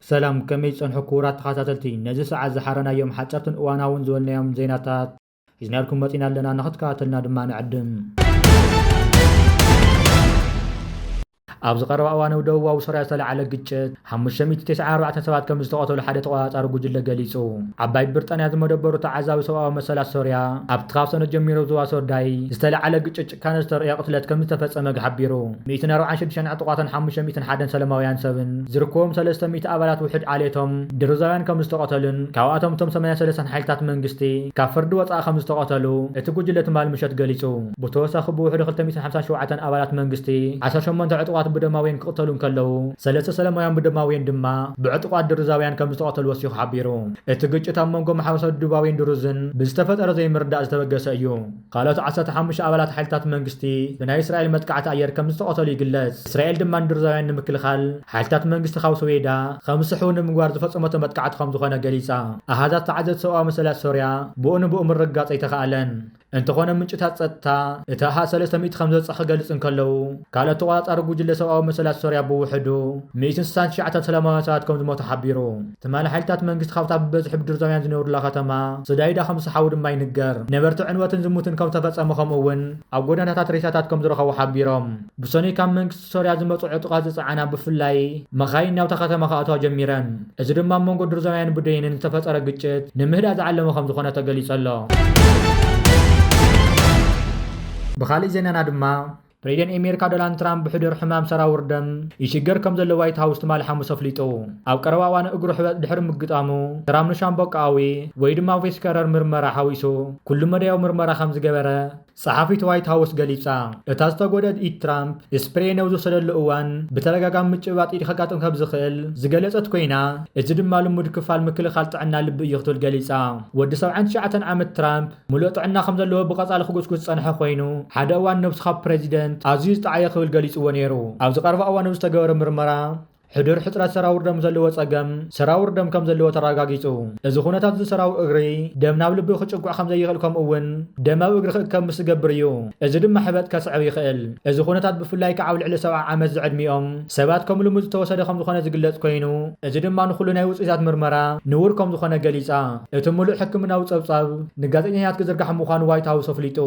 ሰላም ከመይ ጸንሑ ክቡራት ተኸታተልቲ ነዚ ሰዓት ዝሓረናዮም ሓጸርትን እዋናውን ዝበልናዮም ዜናታት ሒዝናልኩም መፂና ኣለና ንክትከታተልና ድማ ንዕድም ኣብዚ ቀረባ እዋን ኣብ ደቡባዊ ሶርያ ዝተለዓለ ግጭት 594 ሰባት ከም ዝተቐተሉ ሓደ ተቆፃፃሪ ጉጅለ ገሊጹ። ዓባይ ብርጣንያ ዝመደበሩ ተዓዛቢ ሰብኣዊ መሰላት ሶርያ ኣብቲ ካብ ሰነ ጀሚሩ ዝዋሶርዳይ ዝተለዓለ ግጭት ጭካነ ዝተርእዮ ቅትለት ከምዝተፈጸመ ሓቢሩ። ሚእትን ኣርብዓን ሽዱሽተን ዕጡቓትን ሓሙሽተ ሚእትን ሓደን ሰለማውያን ሰብን ዝርክቦም ሰለስተ ሚእቲ ኣባላት ውሕድ ዓሌቶም ድሩዛውያን ከምዝተቐተሉን ካብኣቶም እቶም ሰማንያ ሰለስተን ሓይልታት መንግስቲ ካብ ፍርዲ ወጻኢ ከምዝተቐተሉ እቲ ጉጅለ ትማል ምሸት ገሊጹ። ብተወሳኺ ብውሕዱ ክልተ ሚእትን ሓምሳን ሸውዓተን ኣባላት መንግስቲ ዓሰርተ ሸሞንተ ዕጡቓት ብዶማውየን ክቕተሉ እንከለዉ ሰለስተ ሰለማውያን ብዶማውየን ድማ ብዕጡቓት ድሩዛውያን ከምዝተቐተሉ ወሲኹ ሓቢሩ። እቲ ግጭት ኣብ መንጎ ማሕበረሰብ ደቡባውይን ድሩዝን ብዝተፈጠረ ዘይምርዳእ ዝተበገሰ እዩ። ካልኦት ዓሰርተ ሓሙሽተ ኣባላት ሓይልታት መንግስቲ ብናይ እስራኤል መጥቃዕቲ ኣየር ከምዝተቐተሉ ይግለጽ። እስራኤል ድማ ንድርዛውያን ንምክልኻል ሓይልታት መንግስቲ ካብ ሶዌይዳ ከምዝስሕቡ ንምግባር ዝፈጸመቶ መጥቃዕቲ ከምዝኾነ ገሊጻ። ኣሃዛት ተዓዘብቲ ሰብኣዊ መሰላት ሶርያ ብኡ ንብኡ ምርግጋጽ ኣይተኻእለን። እንተኾነ ምንጭታት ጸጥታ እቲ ኣሃዝ ሰለስተ ሚእቲ ከምዝበጽሕ ክገልጹ እንከለዉ፣ ካልኦት ተቖጻጻሪ ጉጅለ ሰብኣዊ መሰላት ሶርያ ብውሕዱ ሚእትን ስሳን ትሽዓተን ሰላማውያን ሰባት ከምዝሞቱ ሓቢሩ። ትማሊ ሓይልታት መንግስቲ ካብታ ብበዝሒ ብድርዛውያን ዝነብሩላ ከተማ ስዳይዳ ከም ዝሰሓቡ ድማ ይንገር። ነበርቲ ዕንወትን ዝሙትን ከም ዝተፈጸመ ከምኡ እውን ኣብ ጎደናታት ሬሳታት ከም ዝረኸቡ ሓቢሮም። ብሰኑይ ካብ መንግስቲ ሶርያ ዝመጽኡ ዕጡቓት ዝጸዓና ብፍላይ መኻይን ናብታ ከተማ ክኣትዋ ጀሚረን። እዚ ድማ ኣብ መንጎ ድርዛውያንን ብደይንን ዝተፈጠረ ግጭት ንምህዳእ ዝዓለመ ከም ዝኾነ ተገሊጹ ኣሎ። ብኻሊእ ዜናና ድማ ፕሬዚደንት ኣሜሪካ ዶናልድ ትራምፕ ብሕዱር ሕማም ሰራውር ደም ይሽገር ከም ዘሎ ዋይት ሃውስ ትማሊ ሓሙስ ኣፍሊጡ። ኣብ ቀረባ እዋን እግሩ ሕበጥ ድሕሪ ምግጣሙ ትራምፕ ንሻምበቆኣዊ ወይ ድማ ቬስከረር ምርመራ ሓዊሱ ኩሉ መዳያዊ ምርመራ ከም ዝገበረ ጸሓፊት ዋይት ሃውስ ገሊጻ። እታ ዝተጎድኣት ኢድ ትራምፕ ስፕሬይ ነብ ዝወሰደሉ እዋን ብተደጋጋሚ ምጭብባጥ ኢድ ከጋጥም ከም ዝኽእል ዝገለጸት ኮይና እዚ ድማ ልሙድ ክፋል ምክልኻል ጥዕና ልቢ እዩ ክትብል ገሊጻ። ወዲ ሰብዓን ትሽዓተን ዓመት ትራምፕ ምሉእ ጥዕና ከም ዘለዎ ብቐጻሊ ክጉስጉስ ዝጸንሐ ኮይኑ፣ ሓደ እዋን ነብስኻ ፕረዚደንት ኣዝዩ ዝጠዓየ ክብል ገሊጽዎ ነይሩ። ኣብዚ ቀረባ እዋን ኣብ ዝተገበረ ምርመራ፣ ሕዱር ሕጽረት ሰራውር ደም ዘለዎ ጸገም ሰራውር ደም ከም ዘለዎ ተረጋጊጹ። እዚ ኩነታት እዚ ሰራውር እግሪ ደም ናብ ልቢ ክጭጉዕ ከም ዘይኽእል ከምኡ'ውን ደም ኣብ እግሪ ክእከብ ምስ ዝገብር እዩ። እዚ ድማ ሕበጥ ከስዕብ ይኽእል። እዚ ኩነታት ብፍላይ ከኣ ኣብ ልዕሊ ሰብዓ ዓመት ዝዕድሚኦም ሰባት ከም ልሙድ ዝተወሰደ ከም ዝኾነ ዝግለጽ ኮይኑ፣ እዚ ድማ ንኹሉ ናይ ውጽኢታት ምርመራ ንቡር ከም ዝኾነ ገሊጻ። እቲ ምሉእ ሕክምናዊ ጸብጻብ ንጋዜጠኛታት ክዝርጋሕ ምዃኑ ዋይት ሃውስ ኣፍሊጡ።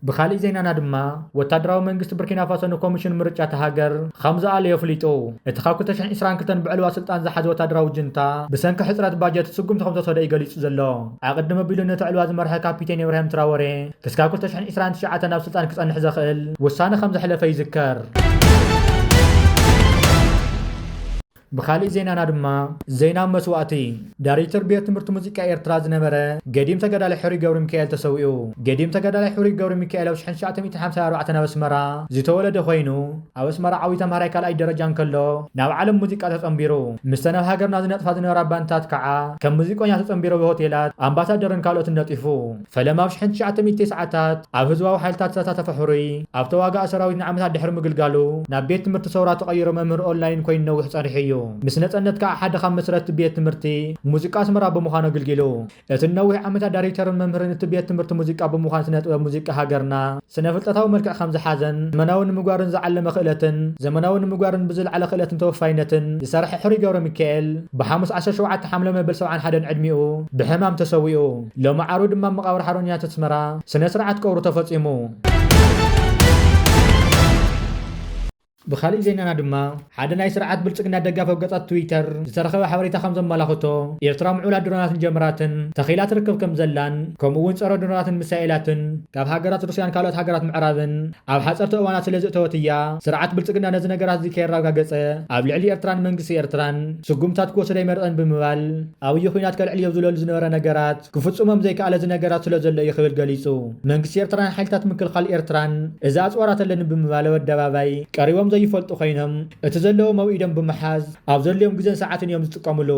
ብኻሊእ ዜናና ድማ ወታደራዊ መንግስቲ ብርኪናፋሶ ንኮሚሽን ምርጫ እታ ሃገር ኸም ዝኣለዮ ኣፍሊጡ። እቲ ካብ ክልተ ሽሕን ዒስራን ክልተን ብዕልዋ ስልጣን ዝሓዘ ወታደራዊ ጅንታ ብሰንኪ ሕጽረት ባጀት ስጉምቲ ከም ዝተወሰደ እዩ ገሊጹ ዘሎ። ኣቐድም ኣቢሉ ነቲ ዕልዋ ዝመርሐ ካፒቴን ኢብራሂም ትራወሬ ክስካብ ክልተ ሽሕን ዒስራን ትሽዓተን ኣብ ስልጣን ክጸንሕ ዘኽእል ውሳነ ከም ዘሕለፈ ይዝከር። ብኻሊእ ዜናና ድማ ዜና መስዋእቲ ዳሪክተር ቤት ትምህርቲ ሙዚቃ ኤርትራ ዝነበረ ገዲም ተጋዳላይ ሕሩይ ገብሪሚካኤል ተሰዊኡ። ገዲም ተጋዳላይ ሕሩይ ገብሪሚካኤል ኣብ ሽሕን ትሽዓተ ሚእትን ሓምሳን ኣርባዕተን ኣብ ኣስመራ ዝተወለደ ኮይኑ ኣብ ኣስመራ ዓብዩ ተምሃራይ ካልኣይ ደረጃ እንከሎ ናብ ዓለም ሙዚቃ ተጸንቢሩ። ምስተን ኣብ ሃገርና ዝነጥፋ ዝነበራ ባንድታት ካዓ ከም ሙዚቆኛ ተጸንቢሩ ኣብ ሆቴላት፣ ኣምባሳደርን ካልኦትን ነጢፉ። ፈለማ ኣብ ሽሕን ትሽዓተ ሚእቲ ተስዓታት ኣብ ህዝባዊ ሓይልታት ዝተሳተፈ ሕሩይ ኣብ ተዋጋኢ ሰራዊት ንዓመታት ድሕሪ ምግልጋሉ፣ ናብ ቤት ትምህርቲ ሰውራ ተቐይሮ መምህር ኦንላይን ኮይኑ ነዊሕ ጸኒሑ እዩ። ምስ ነጸነት ከኣ ሓደ ካብ መስረትቲ ቤት ትምህርቲ ሙዚቃ ኣስመራ ብምዃን ኣግልጊሉ። እቲ ንነዊሕ ዓመታት ዳሪክተርን መምህርን እቲ ቤት ትምህርቲ ሙዚቃ ብምዃን ስነ-ጥበብ ሙዚቃ ሃገርና ስነ-ፍልጠታዊ መልክዕ ከም ዝሓዘን ዘመናዊ ንምግባርን ዝዓለመ ክእለትን ዘመናዊ ንምግባርን ብዝለዓለ ክእለትን ተወፋይነትን ዝሰርሐ ሕሩይ ገብረሚካኤል ብሓሙስ ዓሰርተ ሸውዓተ ሓምለ መበል ሰብዓን ሓደን ዕድሚኡ ብሕማም ተሰዊኡ። ሎሚ ዓርቢ ድማ ኣብ መቓብር ሓርበኛታት ኣስመራ ስነ ስርዓት ቀብሩ ተፈጺሙ። ብኻሊእ ዜናና ድማ ሓደ ናይ ስርዓት ብልጽግና ደጋፊ ኣብ ገጻት ትዊተር ዝተረኸበ ሓበሬታ ከም ዘመላኽቶ ኤርትራ ምዕቡላት ድሮናትን ጀምራትን ተኺላ ትርከብ ከም ዘላን ከምኡ እውን ጸረ ድሮናትን ሚሳኤላትን ካብ ሃገራት ሩስያን ካልኦት ሃገራት ምዕራብን ኣብ ሓጸርቲ እዋናት ስለ ዝእተወት እያ። ስርዓት ብልጽግና ነዚ ነገራት እዚ ከየራጋገጸ ኣብ ልዕሊ ኤርትራን መንግስቲ ኤርትራን ስጉምትታት ክወስድ ኣይመርጸን ብምባል ኣብይ ኹናት ከልዕልዮ ዝለሉ ዝነበረ ነገራት ክፍፅሞም ዘይከኣለ ዝነገራት ስለዘሎ እዩ ክብል ገሊፁ። መንግስቲ ኤርትራን ሓይልታት ምክልኻል ኤርትራን እዚ ኣፅዋራት ኣለኒ ብምባል ኣብ ኣደባባይ ቀሪቦም ዘይፈልጡ ኮይኖም እቲ ዘለዎም ኣብ ኢዶም ብምሓዝ ኣብ ዘድልዮም ግዘን ሰዓትን እዮም ዝጥቀምሉ።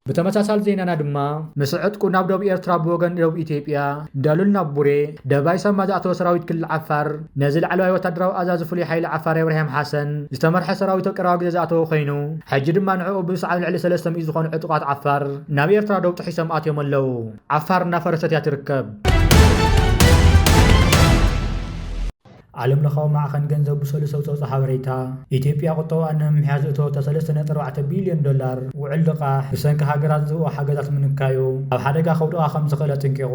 ብተመሳሳሊ ዜናና ድማ ምስ ዕጥቁ ናብ ዶብ ኤርትራ ብወገን ዶብ ኢትዮጵያ ዳሉል ናብ ቡሬ ደባይ ሳማ ዝኣተወ ሰራዊት ክልል ዓፋር፣ ነዚ ላዕለዋይ ወታደራዊ ኣዛዚ ፍሉይ ሓይሊ ዓፋር የብርሃም ሓሰን ዝተመርሐ ሰራዊት ቅራዊ ግዘ ዝኣተወ ኮይኑ ሕጂ ድማ ንዕኡ ብምስዓብ ኣብ ልዕሊ ሰለስተ ሚእቲ ዝኾኑ ዕጡቓት ዓፋር ናብ ኤርትራ ዶብ ጥሒሶም ኣትዮም ኣለው። ዓፋር እናፈረሰት እያ ትርከብ። ዓለም ለኻዊ ማዕኸን ገንዘብ ብሰሉስ ኣብ ዘውፅኦ ሓበሬታ፣ ኢትዮጵያ ቁጠባኣ ንምምሕያሽ ዘእተወቶ ሰለስተ ነጥቢ ኣርባዕተ ቢልዮን ዶላር ውዕል ልቓሕ ብሰንኪ ሃገራት ዝህብኦ ሓገዛት ምንካዩ ኣብ ሓደጋ ከውድቓ ከምዝኽእል ኣጠንቂቑ።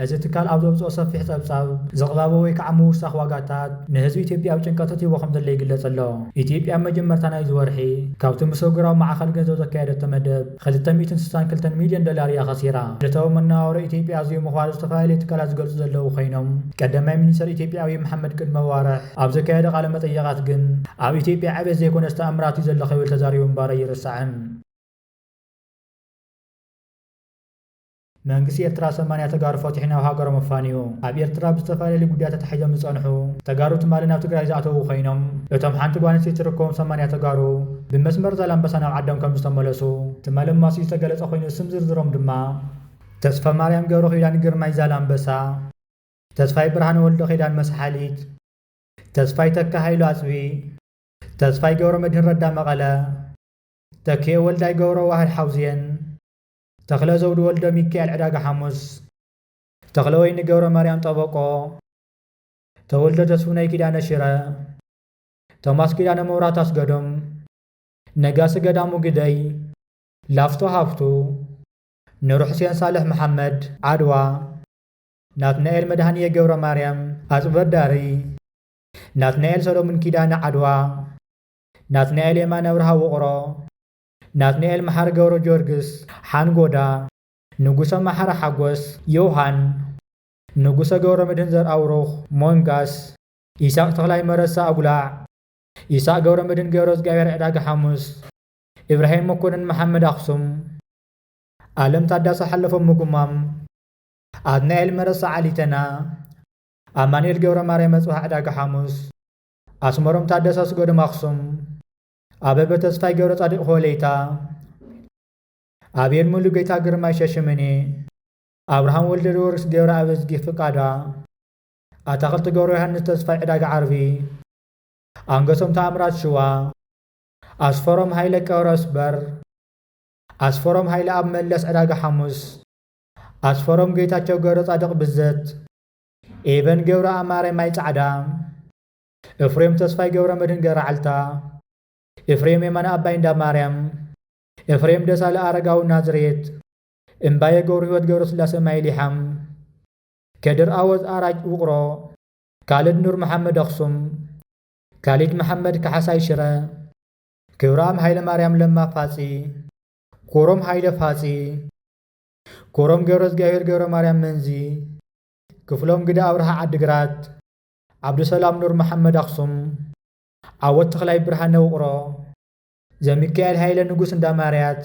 እዚ ትካል ኣብ ዘውጽኦ ሰፊሕ ጸብጻብ፣ ዝቕባበ ወይ ከዓ ምውሳኽ ዋጋታት ንህዝቢ ኢትዮጵያ ኣብ ጭንቀት እትይዎ ከምዘሎ ይግለጽ ኣሎ። ኢትዮጵያ ኣብ መጀመርታ ናይዚ ወርሒ ካብቲ ምስ ኣህጉራዊ ማዕኸን ገንዘብ ዘካየደቶ መደብ ክልተ ሚእትን ስሳን ክልተን ሚልዮን ዶላር እያ ከሲራ። ዕለታዊ መነባብሮ ኢትዮጵያ ኣዝዩ ምኽባሩ ዝተፈላለዩ ትካላት ዝገልጹ ዘለዉ ኮይኖም፣ ቀዳማይ ሚኒስተር ኢትዮጵያ ኣብይ መሓመድ ቅድሚ ኣዋርሕ ኣብ ዘካየዶ ቃለ መጠይቓት ግን ኣብ ኢትዮጵያ ዕቤት ዘይኮነስ ተኣምራት እዩ ዘሎ ክብል ተዛሪቡ ምንባሩ ኣይርሳዕን። መንግስቲ ኤርትራ ሰማንያ ተጋሩ ፈትሑ ናብ ሃገሮም ኣፋንዩ። ኣብ ኤርትራ ብዝተፈላለዩ ጉዳያት ተታሒዞም ዝጸንሑ ተጋሩ ትማሊ ናብ ትግራይ ዝኣተዉ ኮይኖም እቶም ሓንቲ ጓል ኣንስተይቲ ትርከቦም ሰማንያ ተጋሩ ብመስመር ዛላምበሳ ናብ ዓዶም ከምዝተመለሱ ትማሊ ኣማስዩ ዝተገለጸ ኮይኑ ስም ዝርዝሮም ድማ ተስፋማርያም ገብረኪዳን ግርማይ ዛላምበሳ፣ ተስፋይ ብርሃነ ወልደኪዳን መስሓሊት፣ ተስፋይ ተካ ሃይሉ ኣጽቢ፣ ተስፋይ ገብረመድህን ረዳ መቐለ፣ ተኪኤ ወልዳይ ገብረዋህድ ሓውዜን፣ ተኽለ ዘውዱ ወልደሚካኤል ዕዳጋ ሓሙስ። ተኽለወይኒ ገብረማርያም ጠበቆ። ተወልደ ተስፉነይ ኪዳነ ሽረ። ቶማስ ኪዳነ መብራህቱ ኣስገዶም። ነጋሲ ገዳሙ ግደይ። ላፍቶ ሃፍቱ። ኑርሑሴን ሳልሕ መሓመድ፣ ዓድዋ። ናትናኤል መድሃንየ ገብረማርያም፣ ኣፅበዳሪ። ናትናኤል ሰለሙን ኪዳነ፣ ዓድዋ። ናትናኤል የማነ ኣብርሃ፣ ውቕሮ። ናትናኤል መሓሪ ገብረጊዮርግስ፣ ሓንጎዳ፣ ንጉሰ መሓሪ ሓጎስ፣ ዮውሃን፣ ንጉሰ ገብረመድህን ዘርኣብሩኽ፣ ሞንጋስ፣ ኢሳቕ ተኽላይ መረሳ፣ ኣጉላዕ፣ ኢሳቕ ገብረመድህን ገብረዝግኣብሄር፣ ዕዳጋ ሓሙስ፣ ኢብራሂም መኮነን መሓመድ፣ ኣኽሱም፣ ኣለም ታዳሰ፣ ሓለፎም፣ ምጉማም፣ ኣትናኤል መረሳ፣ ዓሊተና፣ ኣማኑኤል ገብረማርያም፣ ኣጽብሃ፣ ዕዳጋ ሓሙስ፣ ኣስመሮም ታደሰ፣ ኣስገዶም፣ ኣኽሱም፣ ኣበበ ተስፋይ ገብረጻዲቅ ሆለይታ ኣቤል ሙሉጌታ ግርማይ ሸሽምኔ ኣብርሃም ወልደልወርስ ገብረኣብዝጊ ፍቃዳ፣ ኣታኽልቲ ገብረዮሃንስ ተስፋይ ዕዳጋ ዓርቢ፣ ኣንገሶም ተኣምራት ሽዋ፣ ኣስፈሮም ሃይለ ቀብረስበር፣ ኣስፈሮም ሃይለኣብ መለስ ዕዳጋ ሓሙስ፣ ኣስፈሮም ጌታቸው ገብረጻድቕ ብዘት፣ ኤቨን ገብረኣማረ ማይ ጻዕዳ፣ ኤፍሬም ተስፋይ ገብረመድህን ገራዕልታ። ኤፍሬም የማነ ኣባይ እንዳማርያም። ኤፍሬም ደሳለ ኣረጋዊ ናዝሬት። እምባየ ገብርህይወት ገብረስላሰ ማይሊሓም። ከድር ኣወዝ ኣራጅ ውቕሮ። ካልድ ኑርመሓመድ ኣኽሱም። ካሊድ መሓመድ ካሓሳይ ሽረ። ክብረኣም ሃይለማርያም ለማ ፋፂ። ኩሮም ሃይለ ፋፂ። ኩሮም ገብረዝጊኣብሄር ገብረማርያም መንዚ። ክፍሎም ግደ ኣብርሃ ዓዲግራት። ዓብዱሰላም ኑር መሓመድ ኣኽሱም፣ ዓወት ተኽላይ ብርሃነ ውቕሮ፣ ዘሚካኤል ሃይለ ንጉስ እንዳማርያት፣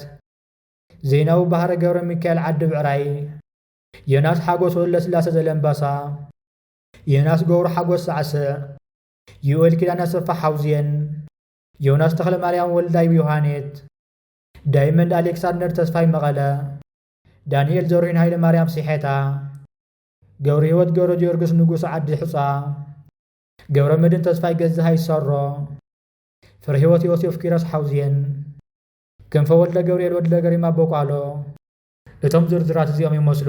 ዜናዊ ባህረ ገብረሚካኤል ዓዲ ብዕራይ፣ ዮናስ ሓጎስ ወለስላሰ ዘለምባሳ፣ ዮናስ ገብሩ ሓጎስ ሳዕስዕ፣ ዩኤል ኪዳነ ኣሰፋ ሓውዜን፣ ዮናስ ተኽለማርያም ወልዳይ ዮሃኔት፣ ዳይመንድ ኣሌክሳንደር ተስፋይ መቐለ፣ ዳኒኤል ዘርሁን ሃይለማርያም ሲሐታ፣ ገብርሂወት ገብረጊዮርግስ ንጉስ ዓዲ ሕጻ። ገብረመድህን ተስፋይ ገዛሃይ ሰሮ። ፍረሂወት ዮሴፍ ኪሮስ ሓውዜን። ክንፈ ወልደገብርኤል ወድለገሪማ ቦቋሎ። እቶም ዝርዝራት እዚኦም ይመስሉ።